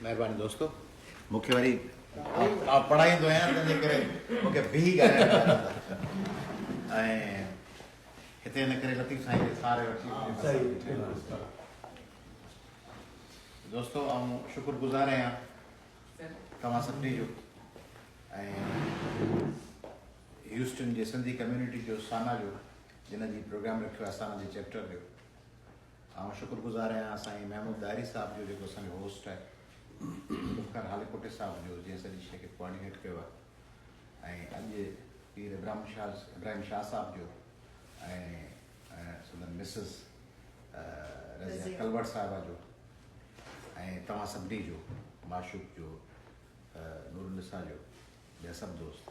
مهرباني دوستو مون کي وري آء پڙهائيندو آهيان تنهن جي ڪري مون کي بيهي ڳالهائڻ پيا ڏيندا ۽ هتي ان ڪري لطيف سائين کي ساري وٺي دوستو آئون شڪر گذار آهيان توهان سڀني جو ۽ هيوسٽن جي سنڌي ڪميونٽي جو سانا جو جن جي پروگرام رکيو آهي سانا جي چيپٽر جو آئون شڪر گذار آهيان سائين محمود ڏاهري صاحب جو جيڪو اسان جو هوسٽ آهي ذوالفقار هاليڪوٽي صاحب جو جنهن سڄي شيء کي ڪوآرڊينيٽ ڪيو آهي ۽ اڄ پير ابراهيم شاهه ابراهيم شاهه صاحب جو ۽ سندن مسز رضيه ڪلوڙ صاحبه جو ۽ توهان سڀني جو معشوق جو نور النساء جو ٻيا سڀ دوست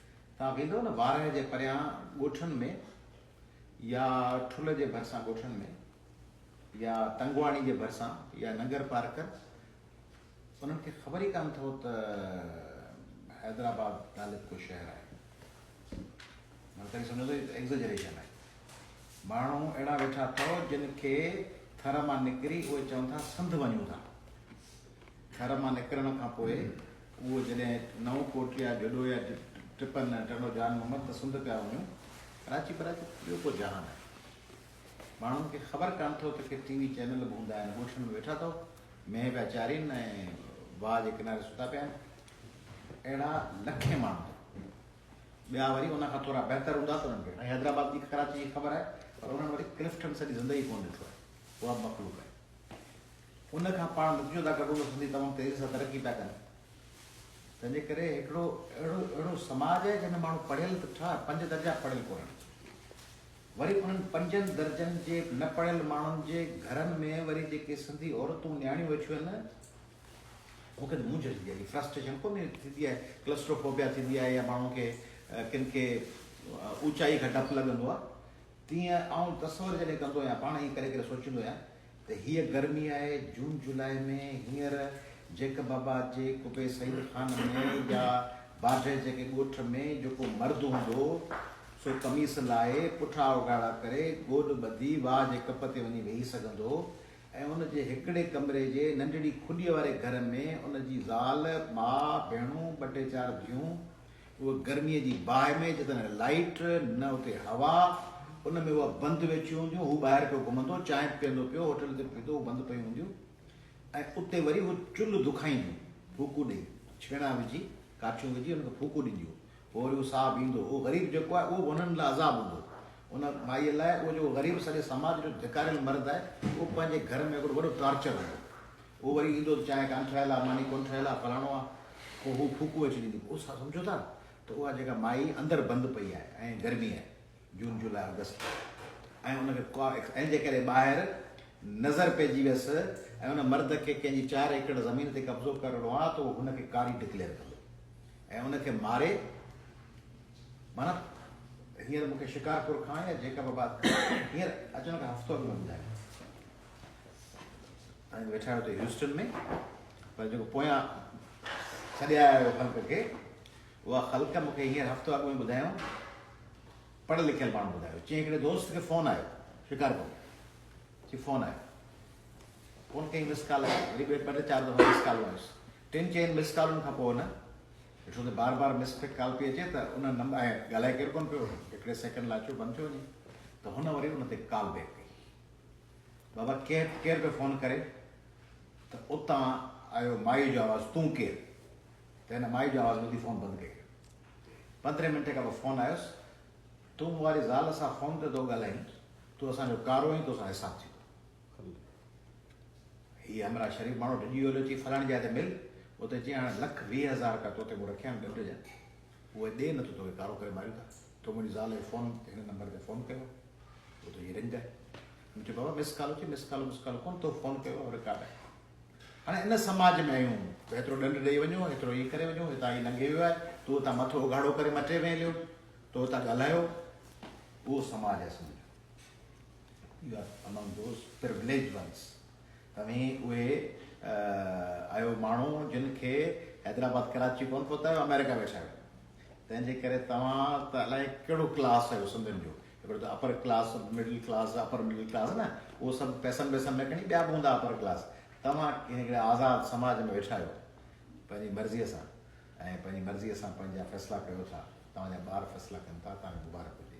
توهان ويندؤ نه وارهه جي پريان ڳوٺن ۾ يا ٺل جي ڀرسان ڳوٺن ۾ يا تنگواڻي جي ڀرسان يا ننگر پارڪر انهن کي خبر ئي ڪانه اٿئو ته حيدرآباد نالي ڪو شهر آهي مطلب ڪڏهن سمجهندو هي ته ايگزجريشن آهي ماڻهو اهڙا ويٺا اٿئو جن کي ٿر مان نڪري اهي چون ٿا سنڌ وڃون ٿا ٿر مان نڪرڻ کان پوء اهو جڏهن نئون ڪوٽڙيا، جڏو يا ٽپن، ٽنڊو جان محمد ته سنڌ پيا وڃون، ڪراچي پراچي ته ٻيو ڪو جهان آهي. ماڻهن کي خبر ڪانه اٿئو ته ڪي ٽي وي چينل به هوندا آهن، ڳوٺن ۾ ويٺا اٿئو، مينهن پيا چارين ۽ واهه جي ڪناري ستا پيا آهن. اهڙا لکين ماڻهو اٿئو. ٻيا وري ان کان ٿورا بهتر هوندا ته انهن کي ۽ حيدرآباد جي ڪراچي جي خبر آهي پر انهن وري ڪلفٽن سڄي زندگي ڪونه ڏٺو آهي. اها به مخلوق آهي. ان کان پاڻ نتيجو ادا ڪڍون ته سنڌي تمام تيزي سان ترقي پيا ڪن. تنهن جي ڪري هڪڙو اهڙو اهڙو سماج آهي جنهن ۾ ماڻهو پڙهيل ته ٺاهه پنج درجا پڙهيل ڪونهن. وري انهن پنجن درجن جي نه پڙهيل ماڻهن جي گهرن ۾ وري جيڪي سنڌي عورتون نياڻيون ويٺيون آهن مون کي ته مونجهه ٿيندي آهي. هي فرسٽريشن ڪونهي ٿيندي آهي ڪلسٽرو فوبيا ٿيندي آهي يا ماڻهن کي ڪن کي اوچائي کان ڊپ لڳندو آهي تيئن آئون تصور جڏهن ڪندو آهيان پاڻ ائين ڪري ڪري سوچيندو آهيان ته هيء گرمي آهي جون جولاء ۾ هينئر جيڪب آباد جي قبي سعيد خان ۾ يا باڊهه جيڪي ڳوٺ ۾ جيڪو مرد هوندو سو قميص لاهي پٺا اوگهاڙا ڪري گوڏ ٻڌي واهه جي ڪپ تي وڃي ويهي سگهندو ۽ ان جي هڪڙي ڪمري جي ننڍڙي کڏيء واري گهر ۾ ان جي زال، ماء، ڀيڻون، ٻه ٽي چار ڌيون، اهو گرميء جي باهه ۾ جتي نه لائيٽ، نه اتي هوا، ان ۾ اهي بند ويٺيون هونديون، هو ٻاهر پيو گهمندو، چانهه پيئندو پيو، هوٽل تي پيتو، هو بند پيون هونديون ۽ اتي وري هو چلهه دکائينديون، ڦوڪون ڏئي، ڇيڻا وجهي، ڪاٺيون وجهي هن کي ڦوڪون ڏينديون، پوء وري هو ساهه پيئندو، اهو غريب جيڪو آهي، اهو به هنن لاء عذاب هوندو. ان مائيء لاء اهو جيڪو غريب سڄي سماج جو ڌڪاريل مرد آهي، اهو پنهنجي گهر ۾ هڪڙو وڏو ٽارچر هوندو. هو وري ايندو ته چانهه ڪانه ٺهيل آ، ماني ڪونه ٺهيل آ، فلاڻو آ، پوء هو ڦوڪون ويچي ڏيندي. پوء اسان سمجهون ٿا ته اها جيڪا مائي اندر بند پئي آهي ۽ گرمي آهي، جون جولاء آگسٽ، ۽ ان کي ڪا ايڪس ۽ جي ڪڏهن ٻاهر نظر پئجي ويس ۽ ان مرد کي ڪنهن جي چار ايڪڙ زمين تي قبضو ڪرڻو آ ته اهو هن کي ڪاري ڊڪليئر ڪندو ۽ ان کي ماري معنيٰ هينئر مون کي شڪارپور کان يا جيڪب آباد کان هينئر اچڻ کان هفتو اڳ ۾ ٻڌايو. ۽ ويٺا هتي هيوسٽن ۾ پر جيڪو پويان ڇڏي آيا آهيو خلق کي اها خلق مون کي هينئر هفتو اڳ ۾ ٻڌايو پڙهيل لکيل ماڻهو ٻڌايو چي هڪڙي دوست کي فون آيو شڪارپور چي فون آيو فون ڪئي مس ڪال آئي وري ٻه ٽي چار دفعا مس ڪالون آيس ٽن چئن مس ڪالن کان پوء نه ڏٺو ته بار بار مس فٽ ڪال پئي اچي ته ان نمبر ڳالهائي ڪير ڪون پيو هڪڙي سيڪنڊ لاء ڇو بند ٿيو وڃي ته هن وري ان تي ڪال بيڪ ڪئي بابا ڪير ڪير پيو فون ڪري؟ ته اتان آيو مائيء جو آواز تون ڪير؟ ته هن مائيء جو آواز ٻڌي فون بند ڪئي. پندرهين منٽ کان پوء فون آيس، تون مون واري زال سان فون تي ٿو ڳالهائين، تون اسان جو ڪارو آهين، تو سان حساب ٿيندو. هي همراهه شريف ماڻهو ڊڄي ويو هليو چي فلاڻي جاء تي مل، اتي چيائين هاڻي لک ويهه هزار رپيا تو تي مون رکيا آهن ڏنڊ جا. هوء ڏي نه ته توکي ڪارو ڪري ماريون ٿا. تو منهنجي زال جو فون هن نمبر تي فون ڪيو هو ته هي رنگ آهي. مون چيو بابا مس ڪال اٿئي مس ڪال مس ڪال ڪونه تو فون ڪيو هو رڪارڊ آهي. هاڻي ان سماج ۾ آهيون ته ايترو ڏنڊ ڏئي وڃو ايترو ايئن ڪري وڃو هتان هي لنگهي ويو آهي تو هتان مٿو اگهاڙو ڪري مٽي ۾ هليو تو هتان ڳالهايو اهو سماج آهي سنڌ جو U are among those privileged once. توهين اهي آهيو ماڻهو جن کي حيدرآباد ڪراچي ڪونه پهتايو آمريڪا ويٺايو تنهن جي ڪري توهان ته الائي ڪهڙو ڪلاس آهيو سنڌين جو هڪڙو ته upper class middle class upper middle class نه اهو سڀ پيسن ويسن ۾ کڻي ٻيا به هوندا اپر ڪلاس توهان هڪڙي آزاد سماج ۾ ويٺا آهيو پنهنجي مرضي سان ۽ پنهنجي مرضي سان پنهنجا فيصلا ڪيو ٿا توهان جا ٻار فيصلا ڪن ٿا توهان کي مبارڪ هجي.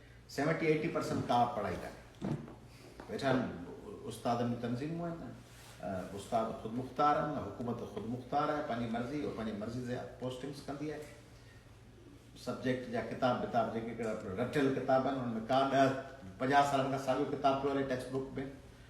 سيونٽي ايٽي پرسنٽ ڪا پڙهائي ڪانهي ويٺا آهن استادن جون تنظيمون آهن استاد خود مختار آهن حڪومت خود مختار آهي پنهنجي مرضي او پنهنجي مرضي سان پوسٽنگس ڪندي آهي سبجيڪٽ جا ڪتاب ڪتاب جيڪي رٽيل ڪتاب آهن ان ۾ ڪا ڏهه پنجاهه سالن کان ساڳيو ڪتاب پيو هلي ٽيڪسٽ بڪ ۾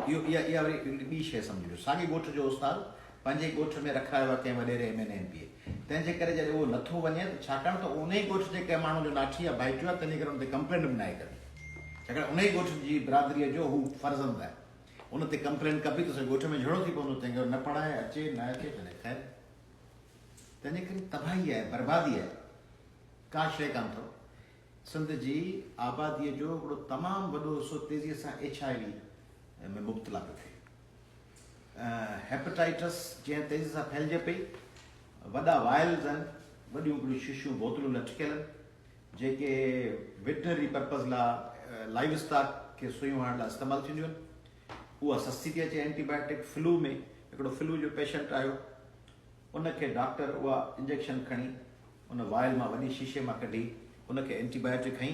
اهو اها اها وري هڪڙي ٻي شيء سمجهبي. ساڳي ڳوٺ جو استاد پنهنجي ڳوٺ ۾ رکرايو آهي ڪنهن وڏيري M N M P A. تنهن جي ڪري جڏهن اهو نٿو وڃي ته ڇاڪاڻ ته انهي ڳوٺ جي ڪنهن ماڻهو جو ناٺي يا ڀائيٽيو آهي تنهن جي ڪري ان تي ڪمپلينٽ به ناهي ڪبي. ڇاڪاڻ انهي ڳوٺ جي برادريء جو هو فرزند آهي. ان تي ڪمپلينٽ ڪبي ته سڄي ڳوٺ ۾ جهيڙو ٿي پوندو. تنهن کي نه پڙهائي اچي نه اچي ڀلي خير. تنهن جي ڪري تباهي آهي، بربادي آهي. ڪا شيء ڪانه اٿئو. سنڌ جي آباديء جو هڪڙو تمام وڏو حصو تيزيء سان ايڇ آء وي ۾ مبتلا پيو ٿئي. هيپيٽائيٽس جنهن تيزي سان ڦهلجي پئي، وڏا وائلز آهن، وڏيون وڏيون شيشيون بوتلون لٽڪيل آهن، جيڪي ويٽنري پرپز لاء لائيو اسٽاڪ کي سوئيون هڻڻ لاء استعمال ٿينديون آهن. اها سستي ٿي اچي. اينٽي بائيوٽڪ فلو ۾ هڪڙو فلو جو پيشنٽ آيو، ان کي ڊاڪٽر اها انجيڪشن کڻي ان وائل مان وڏي شيشي مان ڪڍي ان کي اينٽي بايوٽڪ هنئي.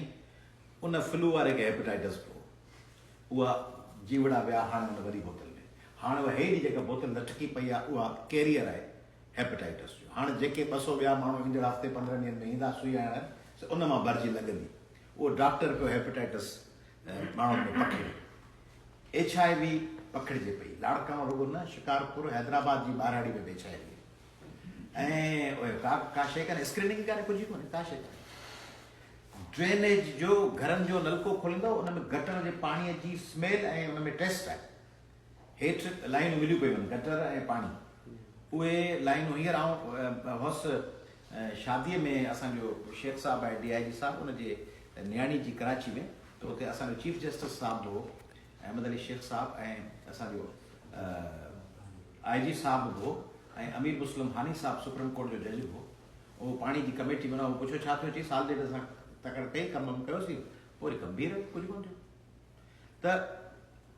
ان فلو واري کي هيپيٽائيٽس به هو. اها جيوڙا ويا هاڻي ان وڏي بوتل ۾. هاڻي اها هيء جي جيڪا بوتل لٽڪي پئي آهي اها ڪيريئر آهي هيپيٽائيٽس جو. هاڻي جيڪي ٻه سؤ ٻيا ماڻهو ايندڙ هفتي پندرهن ڏينهن ۾ ايندا سوئي هڻڻ سي ان مان ڀرجي لڳندي. اهو ڊاڪٽر پيو هيپيٽائيٽس ماڻهن ۾ پکڙي ايڇ آء وي پکڙجي پئي. لاڙڪاڻو رڳو نه شڪارپور حيدرآباد جي ٻاراڙي ۾ به ايڇ آء وي ۽ ڪا ڪا شيء ڪانهي اسڪريننگ ئي ڪانهي ڪجهه ئي ڪونهي ڪا شيء ڪانهي. ڊرينيج جو گهرن جو نلڪو کوليندا ان ۾ گٽر جي پاڻي جي سميل ۽ ان ۾ ٽيسٽ آهي هيٺ لائينون مليون پيون هن، گٽر ۽ پاڻي. اهي لائينون هينئر آئون هوس شاديء ۾ اسان جو شيخ صاحب آهي ڊي آء جي صاحب ان جي نياڻي جي ڪراچي ۾ ته اتي اسان جو چيف جسٽس صاحب به هو احمد علي شيخ صاحب ۽ اسان جو آء جي صاحب به هو ۽ امير مسلم هاني صاحب سپريم ڪورٽ جو جج به هو اهو پاڻي جي ڪميٽي منا هو پڇيو ڇا ٿيو چئي سال ڏيڍ اسان تڪڙ ڪئي ڪم ڪيوسين پوري ڪم بيهي رهيو ڪجهه ڪونه ٿيو ته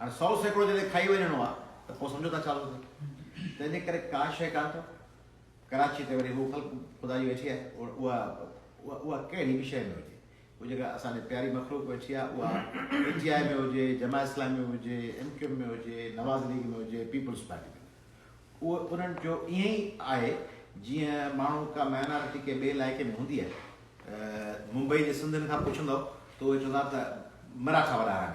هاڻي سؤ سيڪڙو جڏهن کائي وڃڻو آ ته پوء سمجهو ٿا ڇا ٿو ٿئي. تنهن جي ڪري ڪا شيء ڪانه ٿو. ڪراچيء تي وري هو خلق خدائي ويٺي آهي اها اها ڪهڙي به شيء ۾ هجي. هو جيڪا اسان ڏي پياري مخلوق ويٺي آهي اها پي ٽي آء ۾ هجي، جماعت اسلامي ۾ هجي، ايم ڪيو ايم ۾ هجي، نواز ليگ ۾ هجي، پيپلز پارٽي ۾ هجي. اهو انهن جو ائين ئي آهي جيئن ماڻهو ڪا مائنارٽي ڪنهن ٻئي علائقي ۾ هوندي آهي. ممبئي جي سنڌين کان پڇندؤ ته اهي چوندا ته مراٺا وڏا آهن.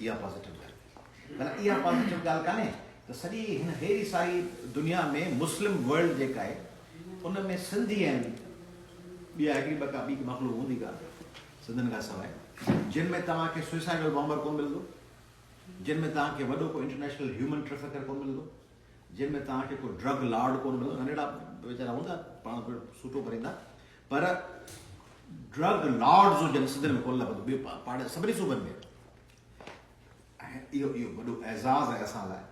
اها پازيٽو ڳالهه ڪئي. معنيٰ اها پازيٽو ڳالهه ڪانهي ته سڄي هن هيري ساري دنيا ۾ مسلم ورلڊ جيڪا آهي ان ۾ سنڌي ۽ ٻيا هڪڙي ٻه ڪا ٻي ڪا مخلوق هوندي ڪا سنڌين کان سواء جن ۾ توهان کي سوئسائيڊل بامبر ڪونه ملندو، جن ۾ توهان کي وڏو ڪو انٽرنيشنل هيومن ٽريفڪر ڪونه ملندو، جن ۾ توهان کي ڪو ڊرگ لارڊ ڪونه ملندو. ننڍڙا ويچارا هوندا پاڻ سوٽو ڀريندا پر ڊرگ لارڊز هجن سنڌ ۾ ڪونه لڀندو ٻي پاڙي سڀني صوبن ۾ اهو اهو وڏو اعزاز آهي اسان لاء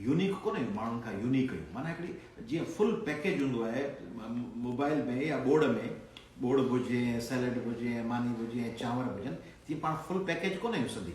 يونيڪ ڪونه آهيون ماڻهن کان يونيڪ آهيون معنی هڪڙي جيئن فل پيڪيج هوندو آهي موبائل ۾ يا ٻوڙ ۾ ٻوڙ به هجي ۽ سيلڊ به هجي ۽ ماني به هجي ۽ چانور به هجن تيئن پاڻ فل پيڪيج ڪونه آهيون سنڌي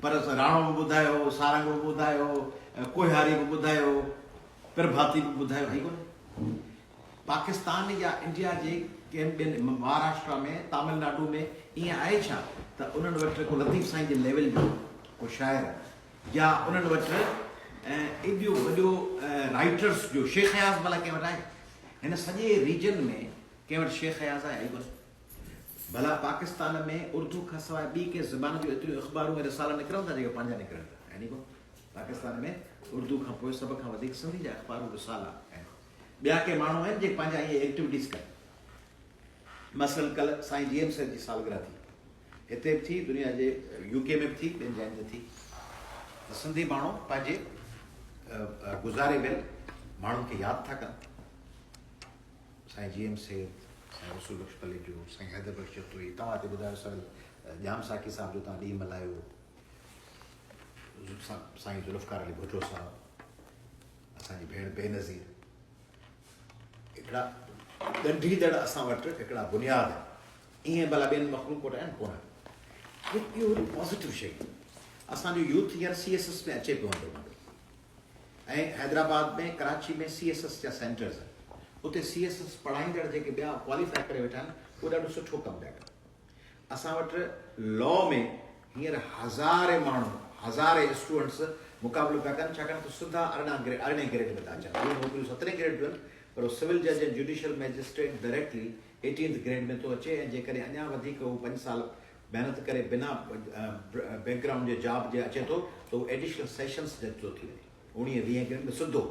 پر راڻو به ٻڌايو، سارنگ به ٻڌايو، ڪوهياري به ٻڌايو، پرڀاتي به ٻڌايو هئي ڪونه. پاڪستان يا انڊيا جي ڪنهن ٻين مهاراشٽرا ۾ تامل ناڊو ۾ ائين آهي ڇا ته انهن وٽ ڪو لطيف سائين جي ليول جو ڪو شاعر يا انهن وٽ ايڏو وڏو رائيٽرس جو شيخ اياز ڀلا ڪنهن وٽ آهي؟ هن سڄي ريجن ۾ ڪنهن وٽ شيخ اياز آهي؟ آهي ڪونه. ڀلا پاڪستان ۾ اردو کان سواء ٻي ڪنهن زبان جون ايتريون اخبارون ۽ رسالا نڪرن ٿا جيڪي پنهنجا نڪرن ٿا يعني ڪو پاڪستان ۾ اردو کان پوء سڀ کان وڌيڪ سنڌي جا اخبارون رسالا ۽ ٻيا ڪي ماڻهو آهن جيڪي پنهنجا ائين ايڪٽيوٽيز ڪن مثلاً ڪل سائين جي ايم سيد جي سالگرهه ٿي هتي به ٿي دنيا جي يو ڪي ۾ به ٿي ٻين جاين تي ٿي ته سنڌي ماڻهو پنهنجي گذاري ويل ماڻهن کي ياد ٿا ڪن سائين جي ايم سيد، سائين رسول بخش پليجو، سائين حيدر بخش جتوئي توهان هتي ٻڌايو سائين ڄام ساقي صاحب جو توهان ڏينهن ملهايو، سائين ذوالفقار علي ڀٽو صاحب، اسان جي ڀيڻ بينظير هڪڙا ڳنڍيندڙ اسان وٽ هڪڙا بنياد آهن ائين ڀلا ٻين مخلوق وٽ آهن ڪونه اهو هڪڙي پازيٽو شيء اسان جو يوٿ هينئر سي ايس ايس ۾ اچي پيو هوندو ۽ Hyderabad ۾ Karachi ۾ C S S جا سينٽرز آهن اتي سي ايس ايس پڙهائيندڙ جيڪي ٻيا ڪواليفاء ڪري ويٺا آهن اهي ڏاڍو سٺو ڪم پيا ڪن اسان وٽ لا ۾ هينئر هزارين ماڻهو هزارين اسٽوڊنٽس مقابلو پيا ڪن ڇاڪاڻ ته سڌا ارڙهن گريڊ ارڙهين گريڊ ۾ ٿا اچن اهي نوڪريون سترهين گريڊ جون آهن پر سول جج ۽ judicial magistrate directly eighteenth grade ۾ ٿو اچي ۽ جيڪڏهن اڃا وڌيڪ هو پنج سال محنت ڪري بنا بيڪ گرائونڊ جي جاب جي اچي ٿو ته هو ايڊيشنل سيشنز جج ٿو ٿي وڃي اوڻيهه ويهه گريڊ ۾ سڌو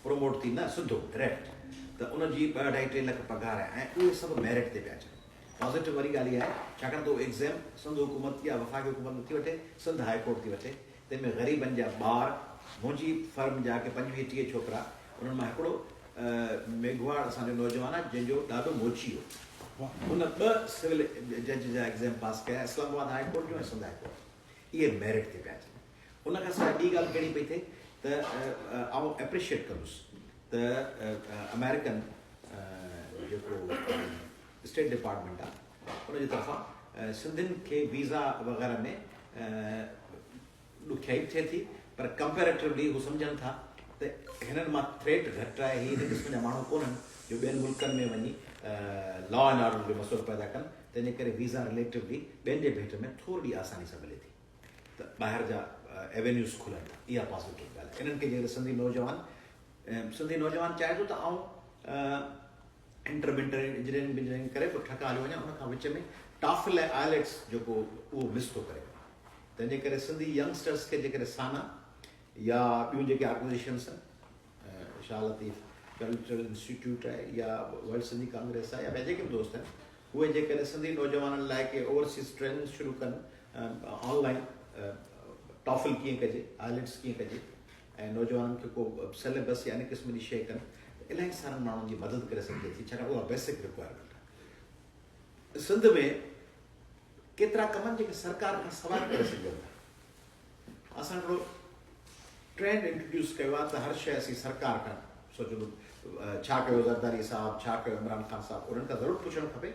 پروموٽ ٿي نه سڌو ڊريڪٽ ته ان جي ٻه اڍائي ٽي لک پگهار آهي ۽ اهي سڀ ميرٽ تي پيا اچن پازيٽو واري ڳالهه اها آهي ڇاڪاڻ ته هو ايگزيم سنڌ حڪومت يا وفاقي حڪومت نٿي وٺي سنڌ هاء ڪورٽ ٿي وٺي تنهن ۾ غريبن جا ٻار، منهنجي فرم جا ڪي پنجويهه ٽيهه ڇوڪرا، انهن مان هڪڙو ميگهواڙ اسان جو نوجوان آهي، جنهن جو ڏاڏو موچي هو. هن ٻه سول جج جا ايگزام پاس ڪيا، اسلام آباد هاء ڪورٽ جو ۽ سنڌ هاء ڪورٽ جو. اهي ميرٽ تي پيا اچن. ان کان سواء ٻي ڳالهه ڪهڙي پئي ٿئي ته آئون ايپريشيئيٽ ڪندس ته آمريڪن جيڪو اسٽيٽ ڊپارٽمينٽ آهي، ان جي طرفان سنڌين کي ويزا وغيره ۾ ڏکيائي به ٿئي ٿي پر ڪمپيريٽولي هو سمجهن ٿا ته هنن مان ٿريٽ گهٽ آهي، هي ان قسم جا ماڻهو ڪونهن جو ٻين ملڪن ۾ وڃي لا اينڊ آرڊر جو مسئلو پيدا ڪن، تنهن جي ڪري ويزا رليٽولي ٻين جي ڀيٽ ۾ ٿورڙي آساني سان ملي ٿي ته ٻاهر جا ايونيوز کلن ٿا، اها پازيٽو ڳالهه آهي، انهن کي جيڪڏهن سنڌي نوجوان سنڌي نوجوان چاهي ٿو ته آئون انٽر بنٽر ۽ انجنيئرنگ بنجنيئرنگ ڪري پوء ٺڪا هليو وڃان ان کان وچ ۾ ٽافل ۽ آئلٽس جيڪو اهو مس ٿو ڪري وڃي تنهن جي ڪري سنڌي ينگسٽرس کي جي ڪڏهن سانا يا ٻيون جيڪي آرگنائزيشنس آهن شاهه لطيف ڪلچرل انسٽيٽيوٽ آهي يا ورلڊ سنڌي ڪانگريس آهي يا ٻيا جيڪي به دوست آهن اهي جي ڪڏهن سنڌي نوجوانن لاء ڪي اوورسيز ٽريننگ شروع ڪن آن لائن ٽافل ڪيئن ڪجي آئلٽس ڪيئن ڪجي ۽ نوجوانن کي ڪو سليبس يا ان قسم جي شيء ڪن ته الائي سارن ماڻهن جي مدد ڪري سگهجي ٿي ڇاڪاڻ اها بيسڪ رڪوائرمينٽ آهي. سنڌ ۾ ڪيترا ڪم آهن جيڪي سرڪار کان سواء ڪري سگهجن ٿا. اسان هڪڙو ٽرينڊ انٽروڊيوس ڪيو آهي ته هر شيء اسين سرڪار کان سوچون ڇا ڪيو زرداري صاحب ڇا ڪيو عمران خان صاحب انهن کان ضرور پڇڻ کپي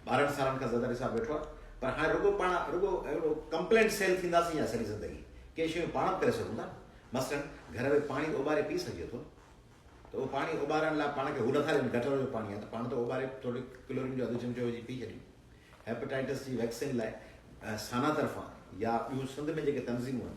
ٻارهن سالن کان زياده عرصه ويٺو آهي پر هاڻي رڳو پاڻ رڳو اهڙو ڪمپلينٽ سيل ٿينداسين يا سڄي زندگي ڪي شيون پاڻ به ڪري سگهون ٿا مثلاً گهر ۾ پاڻي اوٻاري پي سگهجي ٿو ته اهو پاڻي اوٻارڻ لاء پاڻ کي هو نٿا ڏين گٽر جو پاڻي آهي ته پاڻ ته اوٻاري ٿوري ڪلورين جو اڌ چمچو وجهي پي ڇڏيون هيپيٽائٽس جي ويڪسين لاء سانا طرفان يا ٻيون سنڌ ۾ جيڪي تنظيمون آهن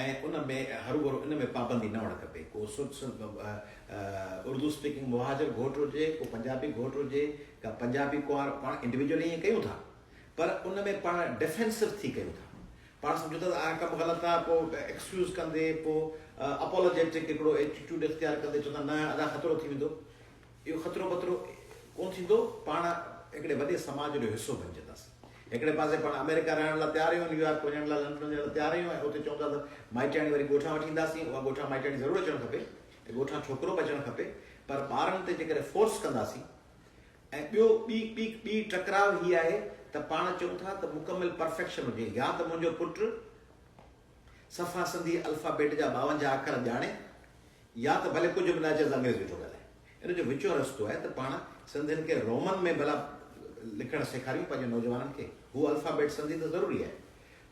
۽ ان ۾ هروڀرو ان ۾ پابندي نه هئڻ کپي. ڪو اردو اسپيڪنگ مهاجر گهوٽ هجي، ڪو پنجابي گهوٽ هجي، ڪا پنجابي ڪنوار، پاڻ انڊيوڊيولي ائين ڪيون ٿا پر ان ۾ پاڻ ڊفينسو ٿي ڪيون ٿا. پاڻ سمجهون ٿا ته آ ڪم غلط آ، پوء ايڪسڪيوز ڪندي، پوء اپالاجيٽڪ هڪڙو ايٽيٽيوڊ اختيار ڪندي چون ٿا نه ادا خطرو ٿي ويندو. اهو خطرو بطرو ڪونه ٿيندو، پاڻ هڪڙي وڏي سماج جو حصو بنجنداس. هڪڙي پاسي پاڻ آمريڪا رهڻ لاء تيار آهيون، نيويارڪ وڃڻ لاء، لنڊن وڃڻ لاء تيار آهيون ۽ اتي چئون ٿا ته مائٽياڻي واري ڳوٺان وٺي اينداسين، اها ڳوٺان مائٽياڻي ضرور اچڻ کپي ۽ ڳوٺان ڇوڪرو به اچڻ کپي، پر ٻارن تي جيڪڏهن فورس ڪنداسين ۽ ٻيو ٻي ٻي ٽڪراء هي آهي ته پاڻ چئون ٿا ته مڪمل پرفيڪشن هجي، يا ته منهنجو پٽ صفا سنڌي الفابيٽ جا ٻاونجاهه اکر ڄاڻي، يا ته ڀلي ڪجهه به نه اچيس انگريزي ويٺو ڳالهائي. ان جو وچو رستو آهي ته پاڻ سنڌين کي رومن ۾ ڀلا لکڻ سيکاريون پنهنجي نوجوانن کي. هو الفابيٽ سنڌي ته ضروري آهي.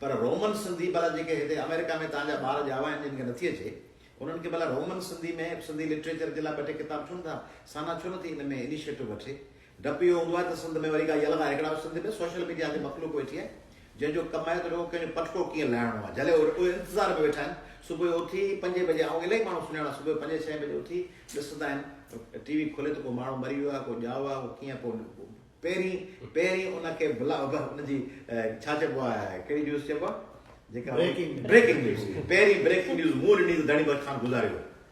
پر رومن سنڌي ڀلا جيڪي هتي آمريڪا ۾ توهان جا ٻار ڄاوا آهن جن کي نٿي اچي انهن کي ڀلا رومن سنڌي ۾ سنڌي لٽريچر جي لاء ٻه ٽي ڪتاب ڇو نٿا سانا ڇو نٿي ان ۾ انيشيٽو وٺي ڊپ اهو هوندو آهي ته سنڌ ۾ وري ڪا يلغا هيڪڙا به سنڌ ۾ سوشل ميڊيا تي مخلوق ويٺي آهي جنهن جو ڪم آهي ته رڳو ڪنهن جو پٽڪو ڪيئن لاهڻو آهي جهلي اهي انتظار ۾ ويٺا آهن صبح جو اٿي پنجين بجي آئون الائي ماڻهو سڃاڻان صبح جو پنجين ڇهين بجي اٿي ڏسندا آهن ٽي وي کولي ته ڪو ماڻهو مري ويو آهي ڪو ڄائو آهي ڪو ڪيئن ڪو پهرين پهرين ان کي بلا ان جي ڇا چئبو آهي ڪهڙي نيوز چئبو آهي جيڪا بريڪنگ نيوز پهرين بريڪنگ نيوز مون ڏني ته ڌڻي بخت خان گذاري ويو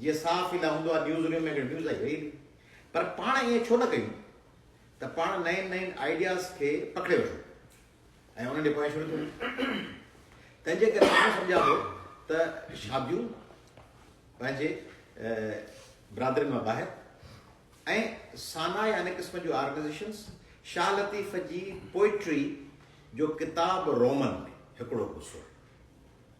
جيئن صحافي لاء هوندو آهي نيوز روم ۾ هڪڙي نيوز آئي ويئي پر پاڻ ائين ڇو نه ڪيون ته پاڻ نئين نئين آئيڊياز کي پڪڙي وٺون ۽ انهن ڏي پويان شروع ٿيون تنهنجي ڪري آئون سمجهان ٿو ته شاديون پنهنجي برادرين مان ٻاهر ۽ سانا يا ان قسم جون آرگنائزيشنز شاهه لطيف جي پوئٽري جو ڪتاب رومن ۾ هڪڙو حصو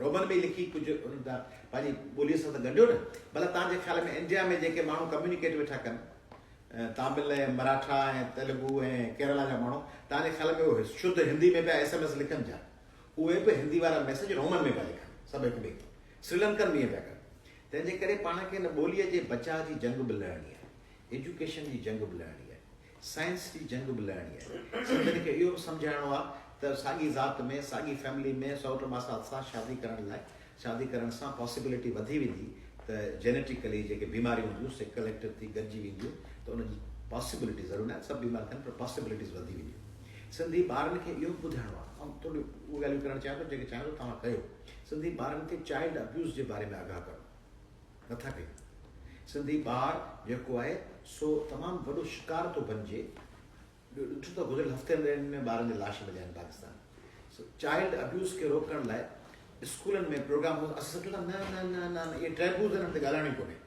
رومن ۾ ئي لکي ڪجهه انهن سان پنهنجي ٻوليء سان ته ڳنڍيو نه. ڀلا توهان جي خيال ۾ انڊيا ۾ جيڪي ماڻهو ڪميونيڪيٽ ويٺا ڪن، تامل ۽ مراٺا ۽ تيلگو ۽ ڪيرالا جا ماڻهو، توهان جي خيال ۾ اهي شڌ هندي ۾ پيا ايس ايم ايس لکن ڇا؟ اهي به هندي وارا ميسيج رومن ۾ پيا لکن، سڀ هڪ ٻئي کي. سريلنڪن به ائين پيا ڪن. تنهن جي ڪري پاڻ کي ان ٻوليء جي بچاء جي جنگ به لڙڻي آهي. ايجوڪيشن جي جنگ به لڙڻي آهي. سائنس جي جنگ به لڙڻي آهي. سنڌين کي اهو به سمجهائڻو آهي ته ساڳي ذات ۾، ساڳي فيملي ۾، سئوٽ ماسات سان شادي ڪرڻ لاء، شادي ڪرڻ سان پاسيبلٽي وڌي ويندي ته جينيٽيڪلي جيڪي بيماريون هونديون سي ڪليڪٽو ٿي گڏجي وينديون ته ان جي پاسيبلٽي ضرور ناهي ته سڀ بيمار ٿين پر پاسيبلٽيز وڌي وينديون. سنڌي ٻارن کي اهو به ٻڌائڻو آهي. آئون ٿوريون اهي ڳالهيون ڪرڻ چاهيان ٿو جيڪي چاهيان ٿو توهان ڪيو. سنڌي ٻارن کي چائلڊ ابيوز جي باري ۾ آگاهه ڪرڻو. نٿا ڪيون. سنڌي ٻار جيڪو آهي سو تمام وڏو شڪار ٿو بنجي. ٻيو ڏٺو ته گذريل هفتن ڏهن ۾ ٻارن جا لاش مليا آهن پاڪستان سو چائلڊ ابيوز کي روڪڻ لاء اسڪولن ۾ پروگرام هو اسان سڀ چيو ته نه نه نه نه اهي ٽيبوز آهن ان تي ڳالهائڻو ئي ڪونهي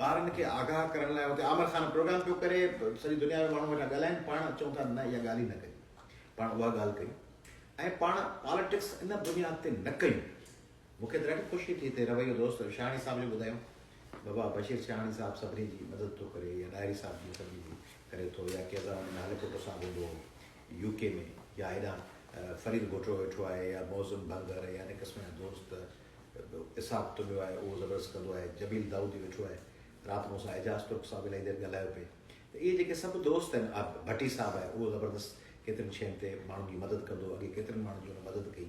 ٻارن کي آگاهه ڪرڻ لاء هتي عامر خان پروگرام پيو ڪري سڄي دنيا ۾ ماڻهو ويٺا ڳالهائن پاڻ چون ٿا نه اها ڳالهه ئي نه ڪيون پاڻ اها ڳالهه ڪيون ۽ پاڻ پاليٽڪس ان بنياد تي نه ڪيون مون کي ته ڏاڍي خوشي ٿي ته رويو دوست شاهاڻي صاحب جو ٻڌايو. بابا بشير شاهاڻي صاحب سڀني جي مدد ٿو ڪري يا ڏاهري صاحب جيئن سڀني جي ڪري ٿو يا ڪيزا وڃي نالي پٽ سان ويندو هو يو ڪي ۾ يا هيڏانهن فريد گهوٽڙو ويٺو آهي يا معظم ڀنگر يا ان قسم جا دوست اسحاق تنيو آهي اهو زبردست ڪندو آهي جميل دائودي ويٺو آهي رات مون سان اعجاز ترڪ صاحب الائي دير ڳالهايو پئي ته اهي جيڪي سڀ دوست آهن آ ڀٽي صاحب آهي اهو زبردست ڪيترين شين تي ماڻهن جي مدد ڪندو اڳي ڪيترن ماڻهن جي ان مدد ڪئي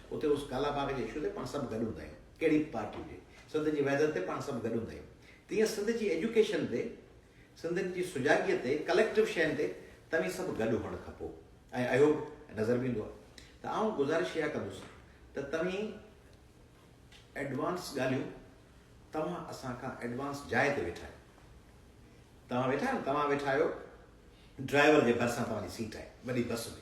اتي اس ڪالا باغ جي اشو تي پاڻ سڀ گڏ هوندا آهيون. ڪهڙي به پارٽي هجي. سنڌ جي وحدت تي پاڻ سڀ گڏ هوندا آهيون. تيئن سنڌ جي ايجوڪيشن تي، سنڌين جي سجاڳيء تي، ڪليڪٽو شين تي توهين سڀ گڏ هئڻ کپو ۽ اهيو به نظر به ايندو آهي ته آئون گذارش اها ڪندس ته توهين ايڊوانس ڳالهيون توهان اسان کان ايڊوانس جاء تي ويٺا آهيو. توهان ويٺا آهيو نه توهان ويٺا آهيو ڊرائيور جي ڀرسان توهان جي سيٽ آهي وڏي بس ۾.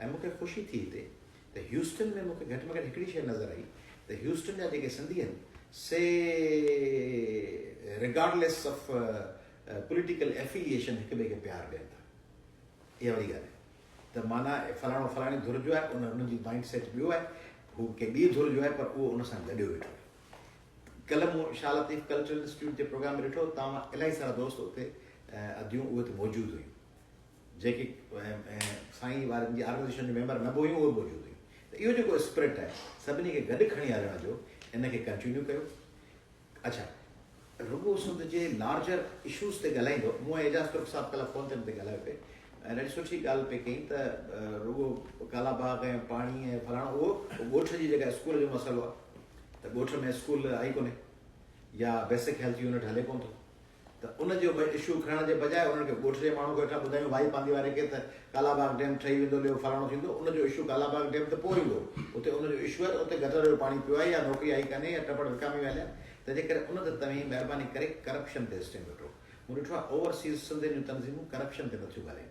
۽ مون کي خوشي ٿي هتي ته هيوسٽن ۾ مون کي گهٽ ۾ گهٽ هڪڙي شيء نظر آئي ته هيوسٽن جا جيڪي سنڌي آهن سي ريگارڊليس آف پوليٽيڪل ائفيليئيشن هڪ ٻئي کي پيار ڏين ٿا اها وڏي ڳالهه آهي ته معنيٰ فلاڻو فلاڻي ڌر جو آهي ان جي مائنڊ سيٽ ٻيو آهي هو ڪنهن ٻي ڌر جو آهي پر اهو ان سان گڏيو ويٺو آهي ڪلهه مون شاهه لطيف ڪلچرل انسٽيٽيوٽ جي پروگرام ۾ ڏٺو توهان مان الائي سارا دوست اتي اديون اهي اتي موجود هيون جيڪي سائين وارن جي آرگنائيزيشن جون ميمبر نه به هيون اهي به موجود هيون ته اهو جيڪو اسپرٽ آهي سڀني کي گڏ کڻي هلڻ جو ان کي ڪنٽينيو ڪيو اڇا رڳو سنڌ جي لارجر اشوز تي ڳالهائيندو مون اعجاز ترڪ صاحب ڪلهه فون تي ڳالهايو پي ۽ ڏاڍي سٺي ڳالهه پي ڪئي ته رڳو ڪالا باغ ۽ پاڻي ۽ فلاڻو اهو ڳوٺ جي جيڪا اسڪول جو مسئلو آهي ته ڳوٺ ۾ اسڪول آئي ڪونهي يا بيسڪ هيلٿ يونٽ هلي ڪون ٿو ته ان جو به اشو کڻڻ جي بجاء انهن کي ڳوٺ جي ماڻهن کي ويٺا ٻڌايون ڀائي پانڌي واري کي ته ڪالاباغ ڊيم ٺهي ويندو ليو فلاڻو ٿيندو ان جو اشو ڪالاباغ ڊيم ته پوء ايندو اتي ان جو اشو آهي ته اتي گٽر جو پاڻي پيو آهي يا نوڪري آهي ڪانهي يا ٽپڙ وڪامي ويا هليا تنهنجي ڪري ان ته توهين مهرباني ڪري ڪرپشن تي اسٽينگ وٺو مون ڏٺو آهي اوور سيز سنڌين جون تنظيمون ڪرپشن تي نٿيون ڳالهين.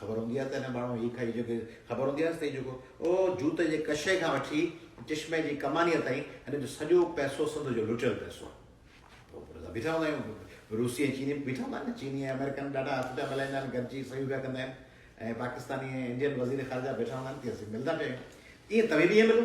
خبر هوندي آهي ته هن ماڻهو هي کائي جيڪي خبر هوندي آهيس ته هي جيڪو او جوت جي ڪشي کان وٺي چشمي جي ڪمانيء تائين هن جو سڄو پئسو سنڌ جو لٽيل پئسو آهي. پوء بيٺا هوندا آهيون روسي ۽ چيني بيٺا هوندا آهن نه چيني ۽ آمريڪن ڏاڍا هٿ پيا ملائيندا آهن گڏجي صحيحون پيا ڪندا آهن ۽ پاڪستاني ۽ انڊين وزير خارجه بيٺا هوندا آهن تي اسين ملندا پيا آهيون تيئن توهين به ائين ملو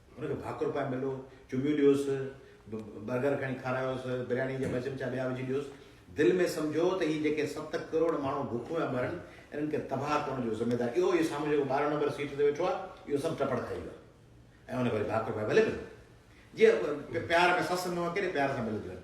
هن کي ڀاڪر پائي ملو، چميون ڏيوس، برگر کڻي کارايوس، برياني جا ٻه چمچا ٻيا وجهي ڏيوس. دل ۾ سمجهو ته هي جيڪي ست ڪروڙ ماڻهو بکون پيا مرن، انهن کي تباهه ڪرڻ جو ذميدار اهو هي سامهون جيڪو ٻارهن نمبر سيٽ تي ويٺو آهي، اهو سڀ ٽپڙ کائي ويو آهي ۽ هن کي وري ڀاڪر پائي ڀلي ملو. جيئن پيار ۾ سس نونهن ڪيڏي پيار سان ملنديون آهن.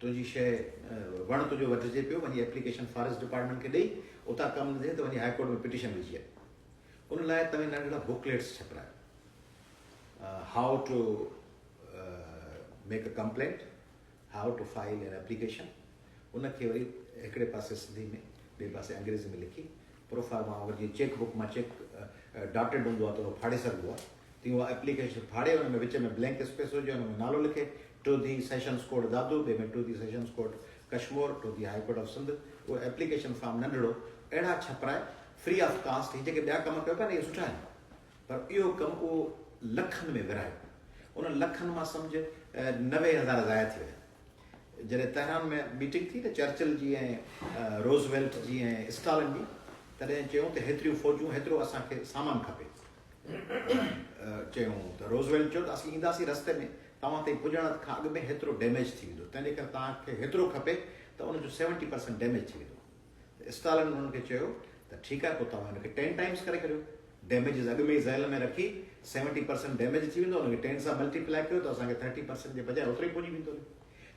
تنهنجي شيء وڻ تنهنجو وڍجي پيو، وڃي ايپليڪيشن فاريسٽ ڊپارٽمينٽ کي ڏئي، اتان ڪم نه ٿئي ته وڃي هاء ڪورٽ ۾ پٽيشن وجهي اچ. ان لاء توهين ننڍڙا بوڪليٽس ڇپرايو، how to make a complaint, how to file an application, ان کي وري هڪڙي پاسي سنڌي ۾ ٻئي پاسي انگريزي ۾ لکي پروفارما اگر جيئن چيڪ بوڪ مان چيڪ ڊاٽيڊ هوندو آهي ته اهو ڦاڙي سگهبو آهي تيئن اها ايپليڪيشن ڦاڙي ان ۾ وچ ۾ بلينڪ اسپيس هجي ان ۾ نالو لکي ٽوڌي سيشنز ڪورٽ دادو ٻئي ۾ ٽوڌي sessions court Kashmore ٽوڌي high court of Sindh اهو ايپليڪيشن فارم ننڍڙو اهڙا ڇپرائي فري آف ڪاسٽ هي جيڪي ٻيا ڪم ڪيو پيا نه اهي سٺا آهن پر اهو ڪم اهو لکن ۾ ورهايو انهن لکن مان سمجهه نوي هزار ضايع ٿي ويا جڏهن تهران ۾ ميٽنگ ٿي ته چرچل جي ۽ روزويلٽ جي ۽ اسٽالن جي تڏهن چيون ته هيتريون فوجون هيترو اسان کي سامان کپي چيون ته روزويلٽ چيو ته اسين اينداسين رستي ۾ توهان تائين پڄڻ کان اڳ ۾ هيترو ڊيميج ٿي ويندو تنهنجي ڪري توهان کي هيترو کپي ته ان جو سيونٽي پرسنٽ ڊيميج ٿي ويندو ته اسٽالن انهن کي چيو ته ٺيڪ آهي پوء توهان ان کي ٽين ٽائيمز ڪري ڪريو، ڊيميجز اڳ ۾ ئي ذهن ۾ رکي سيونٽي پرسنٽ ڊيميج ٿي ويندو ان کي ٽين سان ملٽي پلائي ڪيو ته اسان کي ٿرٽي پرسنٽ جي بجاء اوترو ئي پڄي ويندو نه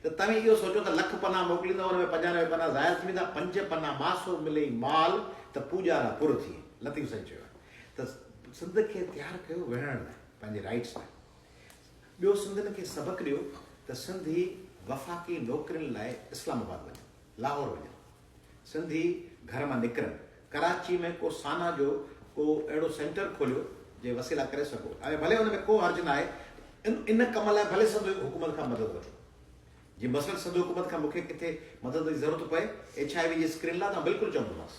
ته توهين اهو سوچو ته لک پنا موڪليندؤ ان ۾ پنجانوي پنا ضايع ٿي ويندا پنج پنا ماسو ملئي مال ته پوڄارا پر ٿئي لطيف سائين چيو آهي ته سنڌ کي تيار ڪيو وڙهڻ لاء پنهنجي رائيٽس لاء ٻيو سنڌين کي سبق ڏيو ته سنڌي وفاقي نوڪرين لاء اسلام آباد وڃن. لاهور وڃن. سنڌي گهر مان نڪرن. ڪراچي ۾ ڪو سانا جو ڪو اهڙو سينٽر کوليو جي وسيلا ڪري سگهو ۽ ڀلي ان ۾ ڪو حرج ناهي ان ڪم لاء ڀلي سنڌ حڪومت کان مدد وٺو جي مثلاً سنڌ حڪومت کان مون کي ڪٿي مدد جي ضرورت پئي ايڇ آء وي جي اسڪرين لاء ته آئون بلڪل چوندومانس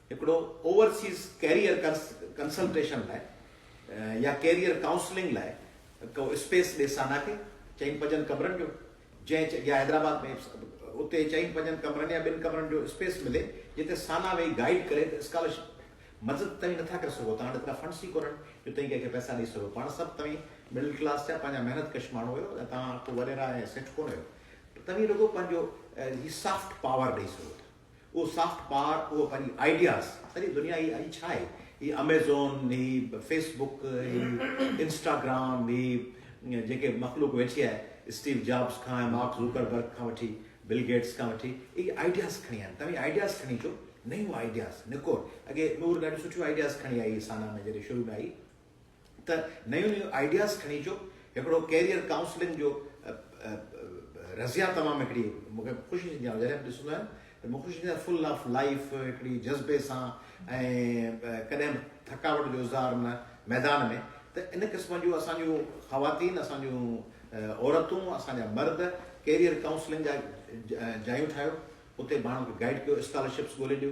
هڪڙو اوورسيز ڪيريئر ڪنسلٽيشن لاء يا ڪيريئر ڪائونسلنگ لاء ڪو اسپيس ڏي سانا کي، چئن پنجن ڪمرن جو، جنهن يا حيدرآباد ۾ اتي چئن پنجن ڪمرن يا ٻن ڪمرن جو اسپيس ملي جتي سانا ويهي گائيڊ ڪري ته اسڪالرشپ مدد توهين نٿا ڪري سگهو توهان وٽ ايترا فنڊس ئي ڪونهن جو توهين ڪنهن کي پئسا ڏئي سگهو پاڻ سڀ توهين مڊل ڪلاس جا پنهنجا محنت ڪش ماڻهو آهيو ۽ توهان ڪو وريرا ۽ سيٺ ڪونهن آهيو توهين رڳو پنهنجو هي سافٽ پاور ڏئي سگهو ٿا. اهو سافٽ پاور، اهو پنهنجي آئيڊياز، سڄي دنيا هي اڄ ڇا هي، هي اميزون، هي فيس بڪ، هي انسٽاگرام، هي جيڪي مخلوق ويٺي آهي، اسٽيو جابز کان ۽ مارڪ زوڪر برگ کان وٺي بل گيٽس کان وٺي، اهي آئيڊياز کڻي آيا آهن. توهين آئيڊياز کڻي اچو، نيون آئيڊياز نڪور. اڳي نور ڏاڍيون سٺيون آئيڊياز کڻي آئي هئي سانا ۾ جڏهن شروع ۾ آئي. ته نيون نيون آئيڊياز کڻي اچو هڪڙو ڪيريئر ڪائونسلنگ جو رضيا تمام هڪڙي مون کي خوشي ٿيندي آئون جڏهن به ڏسندو آهيان ته مون کي خوشي ٿيندي آهي فل آف لائيف هڪڙي جذبي سان ۽ ڪڏهن به ٿڪاوٽ جو اظهار نه ميدان ۾ ته ان قسم جو اسان جون خواتين اسان جون عورتون اسان جا مرد ڪيريئر ڪائونسلنگ جا جايون ٺاهيو اتي ماڻهن کي گائيڊ ڪيو اسڪالرشپس ڳولي ڏيو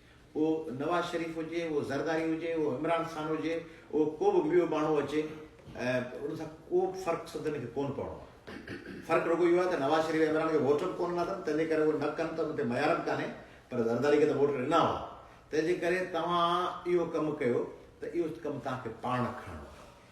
اهو نواز شريف هجي، اهو زرداري هجي، اهو عمران خان هجي، اهو ڪو به ٻيو ماڻهو اچي ان سان ڪو به فرق سنڌين کي ڪونه پوڻو آهي. فرق رڳو اهو آهي ته نواز شريف ۽ عمران کي ووٽ به ڪونه ڏنا اٿن تنهنجي ڪري اهو نه ڪن ته ان تي معيار به ڪانهي پر زرداري کي ته ووٽ ڏنا هئا تنهنجي ڪري توهان اهو ڪم ڪيو ته اهو ڪم توهان کي پاڻ کڻڻو آهي.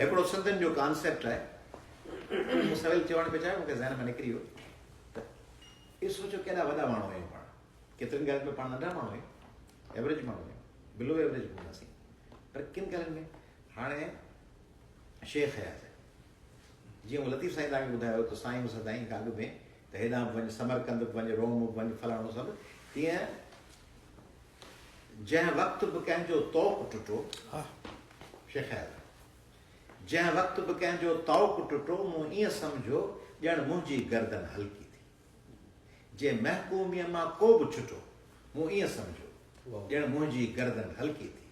هڪڙو سندن جو ڪانسيپٽ آهي اهو مون سويل چوڻ پيو چاهيو مون کي ذهن مان نڪري ويو ته اهو سوچو ڪيڏا وڏا ماڻهو آهيون پاڻ ڪيترين ڳالهين ۾ پاڻ ننڍا ماڻهو آهيون ايوریج ماڻهو آهيون بلو ايوریج هونداسين پر ڪن ڳالهين ۾ هاڻي شيخ حيات جيئن لطيف سائين تان ٻڌايو ته سائين سدائين گاڏ ۾ ته هيڏانهن به وڃ، سمرقند به وڃ، روم به وڃ، فلاڻو سڀ، تيئن جنهن وقت به ڪنهن جو طوق ٽٽو، شيخ اياز، جنهن وقت به ڪنهن جو طوق ٽٽو، مون ائين سمجهيو ڄڻ منهنجي گردن هلڪي ٿي. جي محڪوميء مان ڪو به ڇٽو، مون ائين سمجهيو ڄڻ منهنجي گردن هلڪي ٿي.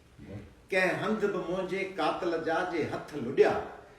ڪنهن هنڌ به منهنجي قاتل جا جي هٿ لڏيا،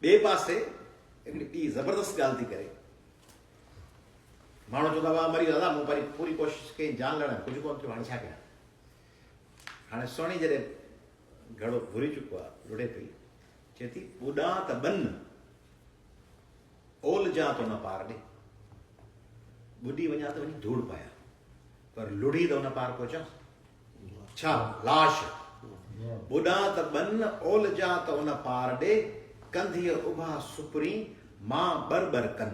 ٻئي پاسي هڪڙي ٻي زبردست ڳالهه ٿي ڪري. ماڻهو چوندا هئا مري دادا مون پري پوري ڪوشش ڪئي جان لڙائي ڪجهه ڪونه ٿيو هاڻي ڇا ڪيان. هاڻي سهڻي جڏهن گهڙو گهري چڪو آ لڙي پئي چئي ٿي ٻڏان ته ٻن اولجان ته ان پار ڏي ٻڏي وڃان ته وڃي ڌوڙ پايان پر لڙي ته ان پار پهچان. ڇا لاش ٻڏان ته ٻن اول جا ته ان پار ڏي ڪنڌيء اڀا سپرين مان ٻر ٻر ڪن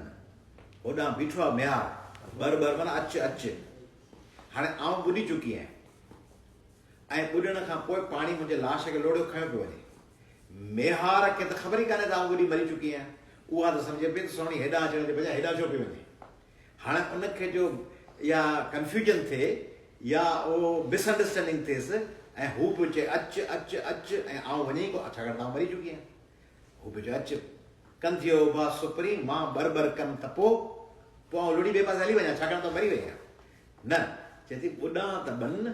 هوڏانهن بيٺو آهي ميار ٻر ٻر معنيٰ اچ اچ هاڻي آئون ٻڏي چڪي آهيان ۽ ٻڏڻ کان پوء پاڻي منهنجي لاش کي لوڙهيو کنيو پيو وڃي ميار کي ته خبر ئي ڪانهي ته آئون ٻڏي مري چڪي آهيان اها ته سمجهي پئي ته سهڻي هيڏانهن اچڻ جي بجاء هيڏانهن ڇو پئي وڃي هاڻ ان کي جو اها ڪنفيوجن ٿئي يا اهو مس انڊرسٽينڊنگ ٿئيس ۽ هو پيو چئي اچ اچ اچ ۽ آئون وڃي ئي ڪونه ڇاڪاڻ ته آئون مري چڪي آهيان. هو پيو چئي اچ ڪن ٿئي اوڀا سپرين مان ٻر ٻر ڪن ته پوء پوء آئون لڙي ٻئي پاسي هلي وڃان ڇاڪاڻ ته آئون مري وئي آهيان. نه چئي ٿي ٻڏان ته ٻن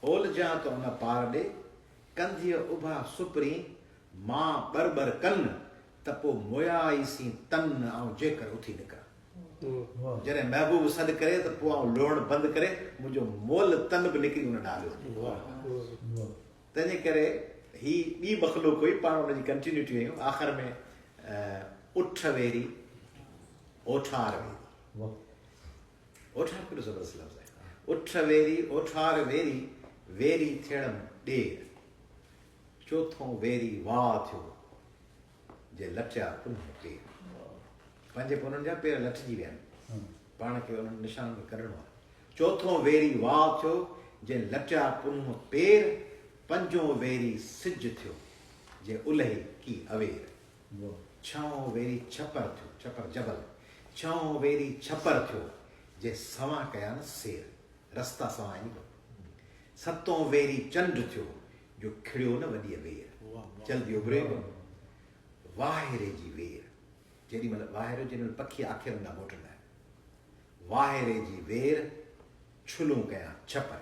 اولجان ته ان پار ڏي ڪنڌيء اڀا سپرين مان ٻر ٻر ڪن ته پو مويا ئي سين تن آئون جيڪر اٿي نڪران. جڏهن محبوب سڏ ڪري ته پو آئون لوڙڻ بند ڪري منهنجو مئل تن به نڪري ان ڏانهن لهندي. تنهن جي ڪري هي ٻي مخلوق هئي پاڻ ان جي ڪنٽينيوٽي هيون آخر ۾ اٺ ويري اوٺار ويري. اوٺار ڪيڏو زبردست لفظ آهي. اٺ ويري، اوٺار ويري، ويري ٿيڻم ڏير. چوٿون ويري واء ٿيو، جي لٽيا پنهون پير. پنهنجي پنهون جا پير لٽجي ويا آهن. پاڻ کي انهن نشانن کي ڪڍڻو آهي. چوٿون ويري واء ٿيو، جي لٽيا پنهون پير. پنجون ويري سج ٿيو، جي الهي ڪي اوير. مون ڇهون ويري ڇپر ٿيو، ڇپر جبل، ڇهون ويري ڇپر ٿيو، جي سوان ڪيا نه سير، رستا سوان آهن ڪو. ستون ويري چنڊ ٿيو، جو کڙيو نه وڏيء وير، جلدي اڀري ڪو. واهيري جي وير، جيڏي مهل واهيرو، جيڏي مهل پکي آکير هوندا موٽندا آهن. واهيري جي وير، ڇلون ڪيا ڇپر.